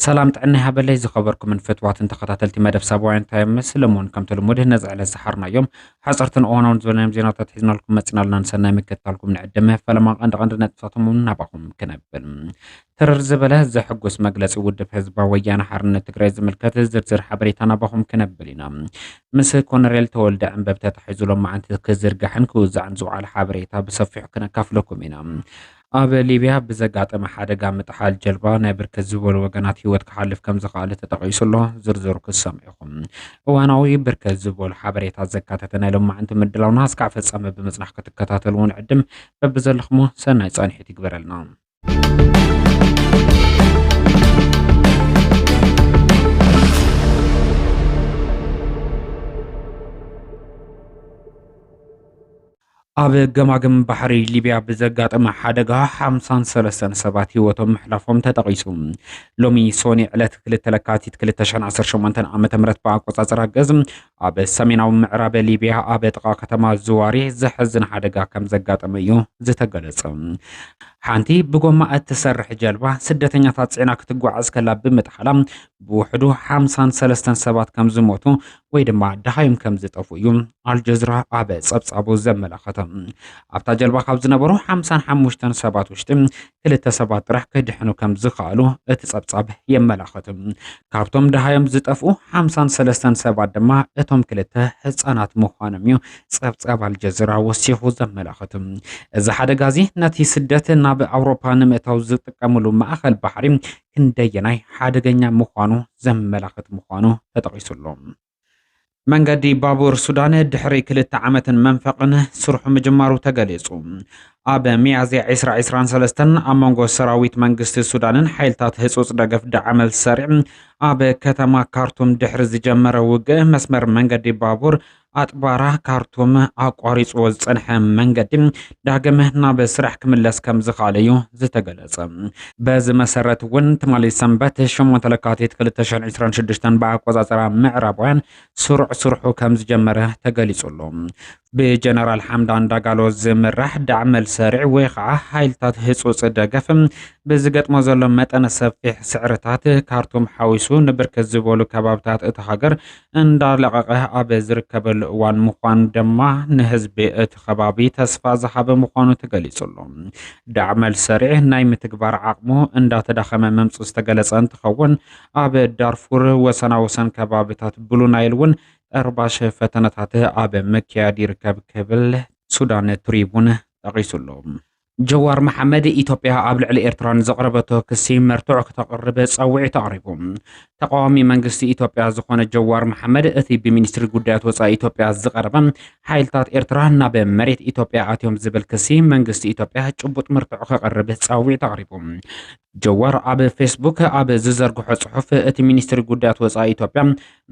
ሰላም ጥዕና ይሃበለይ ዝኸበርኩምን ፍትዋትን ተኸታተልቲ መደብ ሳባውያን ታይም ምስሊ እሙን ከምቲ ልሙድ ነዚ ዕለት ዝሓርናዮም ሓፀርትን እዋናውን ዝበልናዮም ዜናታት ሒዝናልኩም መፂናልና ንሰናይ ምክትታልኩም ንዕድመ ፈለማ ቀንዲ ቀንዲ ነጥብታቶም እውን ናባኹም ክነብል ትርር ዝበለ ዘሕጉስ መግለጺ ውድብ ህዝባዊ ወያነ ሓርነት ትግራይ ዝምልከት ዝርዝር ሓበሬታ ናባኹም ክነብል ኢና። ምስ ኮነሬል ተወልደ ዕንበብ ተታሒዙ ሎማዓንቲ ክዝርጋሕን ክውዛዕን ዝውዓለ ሓበሬታ ብሰፊሑ ክነካፍለኩም ኢና። ኣብ ሊብያ ብዘጋጠመ ሓደጋ ምጥሓል ጀልባ ናይ ብርክት ዝበሉ ወገናት ህይወት ክሓልፍ ከም ዝኸኣለ ተጠቒሱ ኣሎ። ዝርዝሩ ክትሰምዑ ኢኹም። እዋናዊ ብርክት ዝበሉ ሓበሬታ ዘካተተ ናይ ሎማዓንቲ ምድላውና እስካዕ ፍጻመ ብምጽናሕ ክትከታተሉ ንዕድም። በብዘለኹሞ ሰናይ ጻንሒት ይግበረልና። ኣብ ገማግም ባሕሪ ሊቢያ ብዘጋጠመ ሓደጋ ሓምሳን ሰለስተን ሰባት ህይወቶም ምሕላፎም ተጠቒሱ ሎሚ ሶኒ ዕለት ክልተ ለካቲት 218 ዓ ም ብኣቆፃፅራ ገዝ ኣብ ሰሜናዊ ምዕራብ ሊብያ ኣብ ጥቓ ከተማ ዝዋሪ ዘሕዝን ሓደጋ ከም ዘጋጠመ እዩ ዝተገለጸ። ሓንቲ ብጎማ እትሰርሕ ጀልባ ስደተኛታት ጽዕና ክትጓዓዝ ከላ ብምጥሓላ ብውሕዱ ሓምሳን ሰለስተን ሰባት ከም ዝሞቱ ወይ ድማ ደሃዮም ከም ዝጠፍኡ እዩ ኣልጀዝራ ኣብ ጸብጻቡ ዘመላኸተ። ኣብታ ጀልባ ካብ ዝነበሩ ሓምሳን ሓሙሽተን ሰባት ውሽጢ ክልተ ሰባት ጥራሕ ክድሕኑ ከም ዝኸኣሉ እቲ ጸብጻብ የመላኽት። ካብቶም ደሃዮም ዝጠፍኡ ሓምሳን ሰለስተን ሰባት ድማ እቶም ክልተ ህጻናት ምዃኖም እዩ ጸብጻብ ኣልጀዚራ ወሲኹ ዘመላኽት። እዚ ሓደጋ እዚ ነቲ ስደት ናብ ኣውሮፓ ንምእታው ዝጥቀምሉ ማእከል ባሕሪ ክንደየናይ ሓደገኛ ምዃኑ ዘመላኽት ምዃኑ ተጠቒሱሉ። መንገዲ ባቡር ሱዳን ድሕሪ ክልተ ዓመትን መንፈቕን ስርሑ ምጅማሩ ተገሊጹ። ኣብ ሚያዝያ ዒስራ ዒስራን ሰለስተን ኣብ መንጎ ሰራዊት መንግስቲ ሱዳንን ሓይልታት ህጹጽ ደገፍ ዳዕመል ሰሪዕ ኣብ ከተማ ካርቱም ድሕሪ ዝጀመረ ውግእ መስመር መንገዲ ባቡር ኣጥባራ ካርቱም ኣቋሪጽዎ ዝጸንሐ መንገዲ ዳግም ናብ ስራሕ ክምለስ ከም ዝኸኣለ እዩ ዝተገለጸ። በዚ መሰረት እውን ትማሊ ሰንበት ሸሞንተ ለካቲት ክልተ ሽሕን ዕስራን ሽዱሽተን ብኣቆጻጽራ ምዕራባውያን ስሩዕ ስርሑ ከም ዝጀመረ ተገሊጹ ኣሎ። ብጀነራል ሓምዳን ዳጋሎ ዝምራሕ ዳዕመል ሰሪዕ ወይ ከዓ ሓይልታት ህጹጽ ደገፍ ብዝገጥሞ ዘሎ መጠነ ሰፊሕ ስዕርታት ካርቱም ሓዊሱ ንብርክት ዝበሉ ከባብታት እታ ሃገር እንዳለቐቐ ኣብ ዝርከበሉ እዋን ምዃኑ ድማ ንህዝቢ እቲ ከባቢ ተስፋ ዝሃበ ምዃኑ ተገሊፁ'ሎ። ዳዕመል ሰሪዕ ናይ ምትግባር ዓቕሙ እንዳተዳኸመ ምምፅኡ ዝተገለፀ እንትኸውን፣ ኣብ ዳርፉር ወሰና ወሰን ከባቢታት ብሉ ናይል እውን ጠርባሽ ፈተነታት ኣብ ምክያድ ይርከብ ክብል ሱዳን ትሪቡን ጠቒሱ'ሎ። ጀዋር መሓመድ፣ ኢትዮጵያ ኣብ ልዕሊ ኤርትራ ንዘቕረበቶ ክሲ መርትዖ ክተቕርብ ጸውዒት ኣቕሪቡ። ተቓዋሚ መንግስቲ ኢትዮጵያ ዝኾነ ጀዋር መሓመድ፣ እቲ ብሚኒስትሪ ጉዳያት ወጻኢ ኢትዮጵያ ዝቐረበ፣ ሓይልታት ኤርትራ ናብ መሬት ኢትዮጵያ ኣትዮም ዝብል ክሲ፣ መንግስቲ ኢትዮጵያ ጭቡጥ መርትዖ ከቕርብ ጸውዒት ኣቕሪቡ። ጀዋር ኣብ ፌስቡክ ኣብ ዝዘርግሖ ጽሑፍ፣ እቲ ሚኒስትሪ ጉዳያት ወጻኢ ኢትዮጵያ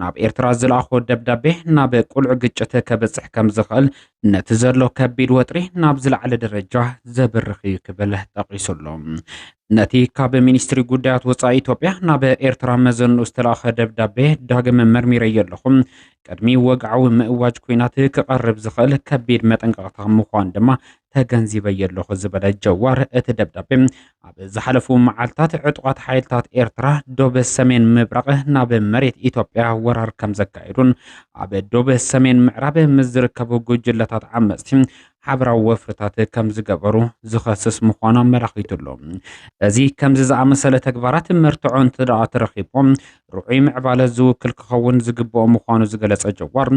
ናብ ኤርትራ ዝለኣኾ ደብዳቤ ናብ ቁልዕ ግጭት ከብጽሕ ከም ዝኽእል፣ ነቲ ዘሎ ከቢድ ወጥሪ ናብ ዝለዓለ ደረጃ ዘብርኽ እዩ ክብል ጠቒሱ ኣሎ። ነቲ ካብ ሚኒስትሪ ጉዳያት ወጻኢ ኢትዮጵያ ናብ ኤርትራ መዘንኡ ዝተለኣኸ ደብዳቤ ዳግም መርሚረዮ ኣለኹ፣ ቅድሚ ወግዓዊ ምእዋጅ ኲናት ክቐርብ ዝኽእል ከቢድ መጠንቀቕታ ምዃኑ ድማ ተገንዚበዮ ኣለኹ ዝበለ ጀዋር፣ እቲ ደብዳቤ ኣብ ዝሓለፉ መዓልታት ዕጡቓት ሓይልታት ኤርትራ ዶብ ሰሜን ምብራቕ ናብ መሬት ኢትዮጵያ ወራር ከም ዘካየዱን ኣብ ዶብ ሰሜን ምዕራብ ምስ ዝርከቡ ጉጅለታት ዓመፅቲ ሓበራዊ ወፍርታት ከም ዝገበሩ ዝኸስስ ምዃኑ ኣመላኺቱ ኣሎ። እዚ ከምዚ ዝኣመሰለ ተግባራት መርትዖ እንተደኣ ተረኺቦም ርዑይ ምዕባለ ዝውክል ክኸውን ዝግብኦ ምዃኑ ዝገለጸ ጀዋር፣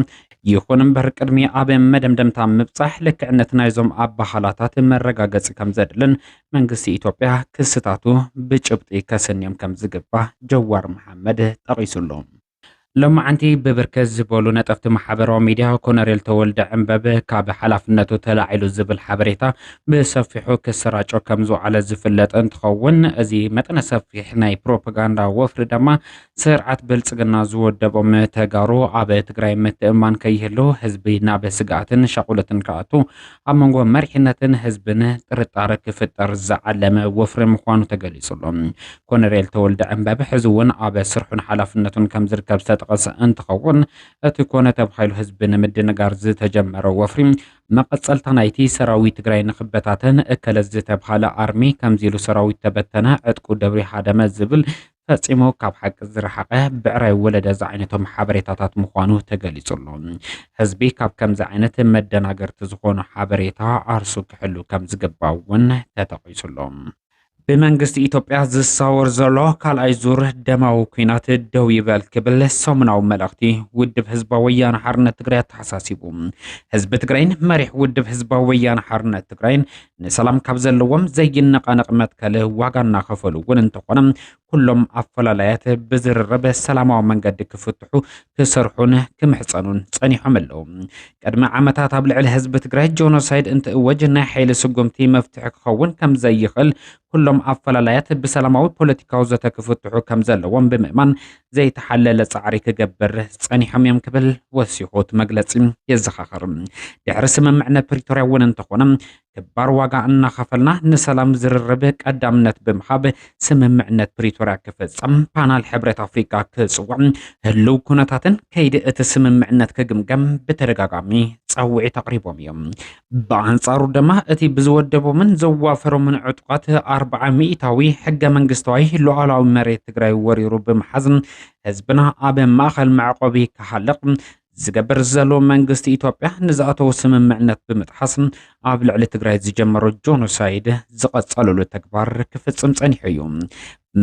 ይኹን እምበር ቅድሚ ኣብ መደምደምታ ምብጻሕ ልክዕነት ናይዞም ኣበሃላታት መረጋገጺ ከምዘድልን መንግስቲ ኢትዮጵያ ክስታቱ ብጭብጢ ከስንዮም ከምዝግባእ ጀዋር መሓመድ ጠቒሱ ኣሎ። ሎማዕንቲ ብብርክት ዝበሉ ነጠፍቲ ማሕበራዊ ሚድያ ኮነሬል ተወልደ ዕንበብ ካብ ሓላፍነቱ ተላዒሉ ዝብል ሓበሬታ ብሰፊሑ ክሰራጮ ከምዝውዓለ ዝፍለጥ እንትኸውን እዚ መጠነ ሰፊሕ ናይ ፕሮፓጋንዳ ወፍሪ ድማ ስርዓት ብልፅግና ዝወደቦም ተጋሩ ኣብ ትግራይ ምትእምማን ከይህሉ ህዝቢ ናብ ስግኣትን ሻቑለትን ክኣቱ ኣብ መንጎ መሪሕነትን ህዝብን ጥርጣረ ክፍጠር ዝዓለመ ወፍሪ ምዃኑ ተገሊጹ ኣሎ። ኮነሬል ተወልደ ዕንበብ ሕዚ እውን ኣብ ስርሑን ሓላፍነቱን ከምዝርከብ ዝተጠቐሰ እንትኸውን እቲ ኮነ ተባሂሉ ህዝቢ ንምድንጋር ዝተጀመረ ወፍሪ መቐጸልታ ናይቲ ሰራዊት ትግራይ ንክበታተን እከለ ዝተብሃለ ኣርሚ ከምዚ ኢሉ ሰራዊት ተበተነ ዕጥቁ ደብሪዩ ሃደመ ዝብል ፈጺሙ ካብ ሓቂ ዝረሓቐ ብዕራይ ወለደ ዝዓይነቶም ሓበሬታታት ምዃኑ ተገሊጹ ኣሎ። ህዝቢ ካብ ከምዚ ዓይነት መደናገርቲ ዝኾኑ ሓበሬታ ዓርሱ ክሕሉ ከምዝግባእ እውን ተጠቒሱ ኣሎ። ብመንግስቲ ኢትዮጵያ ዝሳወር ዘሎ ካልኣይ ዙር ደማዊ ኩናት ደው ይበል ክብል ሰሙናዊ መልእኽቲ ውድብ ህዝባዊ ወያነ ሓርነት ትግራይ ኣተሓሳሲቡ። ህዝቢ ትግራይን መሪሕ ውድብ ህዝባዊ ወያነ ሓርነት ትግራይን ንሰላም ካብ ዘለዎም ዘይነቓነቕ መትከል ዋጋ እናኸፈሉ እውን እንተኾነ ኩሎም ኣፈላላያት ብዝርርብ ሰላማዊ መንገዲ ክፍትሑ ክሰርሑን ክምሕፀኑን ፀኒሖም ኣለዉ። ቅድሚ ዓመታት ኣብ ልዕሊ ህዝቢ ትግራይ ጆኖሳይድ እንትእወጅ ናይ ሓይሊ ስጉምቲ መፍትሒ ክኸውን ከም ዘይኽእል ኩሎም ኣፈላላያት ብሰላማዊ ፖለቲካዊ ዘተ ክፍትሑ ከም ዘለዎም ብምእማን ዘይተሓለለ ጻዕሪ ክገብር ጸኒሖም እዮም ክብል ወሲኹ እቲ መግለጺ የዘኻኽር። ድሕሪ ስምምዕነት ፕሪቶርያ እውን እንተኾነ ክባር ዋጋ እናኸፈልና ንሰላም ዝርርብ ቀዳምነት ብምሃብ ስምምዕነት ፕሪቶርያ ክፍፀም ፓናል ሕብረት ኣፍሪካ ክፅውዕ ህልው ኩነታትን ከይዲ እቲ ስምምዕነት ክግምገም ብተደጋጋሚ ፃውዒት ኣቕሪቦም እዮም። ብኣንጻሩ ድማ እቲ ብዝወደቦምን ዘዋፈሮምን ዕጡቓት ኣርብዓ ሚእታዊ ሕገ መንግስታዊ ሉዓላዊ መሬት ትግራይ ወሪሩ ብምሓዝ ህዝብና ኣብ ማእኸል መዕቆቢ ክሃልቕ ዝገብር ዘሎ መንግስቲ ኢትዮጵያ ንዝኣተው ስምምዕነት ብምጥሓስ ኣብ ልዕሊ ትግራይ ዝጀመሮ ጆኖሳይድ ዝቐጸለሉ ተግባር ክፍጽም ጸኒሑ እዩ።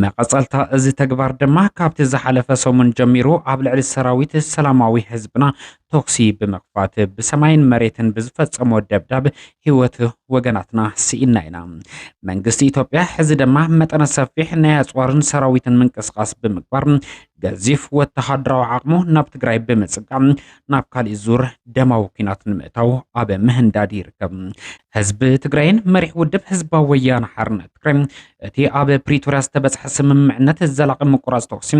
መቐጸልታ እዚ ተግባር ድማ ካብቲ ዝሓለፈ ሰሙን ጀሚሩ ኣብ ልዕሊ ሰራዊት ሰላማዊ ህዝብና ተኩሲ ብምኽፋት ብሰማይን መሬትን ብዝፈጸሞ ደብዳብ ህይወት ወገናትና ስኢና ኢና። መንግስቲ ኢትዮጵያ ሕዚ ድማ መጠነ ሰፊሕ ናይ ኣጽዋርን ሰራዊትን ምንቅስቓስ ብምግባር ገዚፍ ወተሃደራዊ ዓቕሙ ናብ ትግራይ ብምጽቃም ናብ ካሊእ ዙር ደማዊ ኩናት ንምእታው ኣብ ምህንዳድ ይርከብ። ህዝቢ ትግራይን መሪሕ ውድብ ህዝባዊ ወያነ ሓርነት ትግራይ እቲ ኣብ ፕሪቶርያ ዝተበጽሐ ስምምዕነት ዘላቒ ምቁራጽ ተኩሲ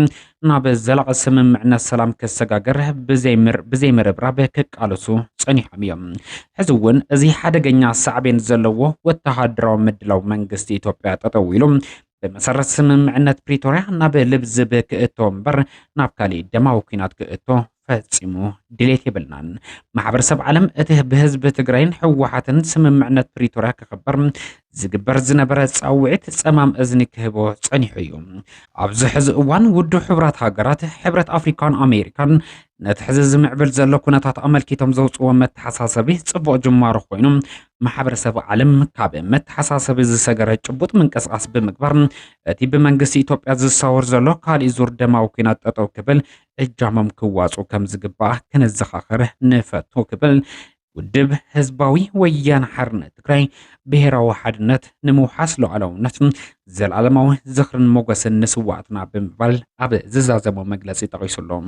ናብ ዘላቒ ስምምዕነት ሰላም ክሰጋገር ብዘይምርብራብ ክቃለሱ ጸኒሖም እዮም። ሕዚ እውን እዚ ሓደገኛ ሳዕቤን ዘለዎ ወተሃደራዊ ምድላው መንግስቲ ኢትዮጵያ ጠጠው ኢሉ ብመሰረት ስምምዕነት ፕሪቶርያ ናብ ልብዝብ ክእቶ እምበር ናብ ካሊእ ደማዊ ኩናት ክእቶ ፈፂሙ ድሌት የብልናን። ማሕበረሰብ ዓለም እቲ ብህዝቢ ትግራይን ህወሓትን ስምምዕነት ፕሪቶርያ ክኽበር ዝግበር ዝነበረ ፃውዒት ፀማም እዝኒ ክህቦ ፀኒሑ እዩ። ኣብዚ ሕዚ እዋን ውድብ ሕቡራት ሃገራት፣ ሕብረት ኣፍሪካን ኣሜሪካን ነቲ ሕዚ ዝምዕብል ዘሎ ኩነታት ኣመልኪቶም ዘውፅዎ መተሓሳሰቢ ፅቡቕ ጅማሮ ኮይኑ ማሕበረሰብ ዓለም ካብ መተሓሳሰቢ ዝሰገረ ጭቡጥ ምንቅስቓስ ብምግባር እቲ ብመንግስቲ ኢትዮጵያ ዝሳወር ዘሎ ካሊእ ዙር ደማዊ ኩናት ጠጠው ክብል እጃሞም ክዋፅኡ ከም ዝግባእ ከነዘኻኽር ንፈቱ ክብል ውድብ ህዝባዊ ወያነ ሓርነት ትግራይ ብሔራዊ ሓድነት ንምውሓስ ሉዓላውነት ዘለኣለማዊ ዝኽርን ሞገስን ንስዋዕትና ብምባል ኣብ ዝዛዘሞ መግለፂ ጠቒሱሎም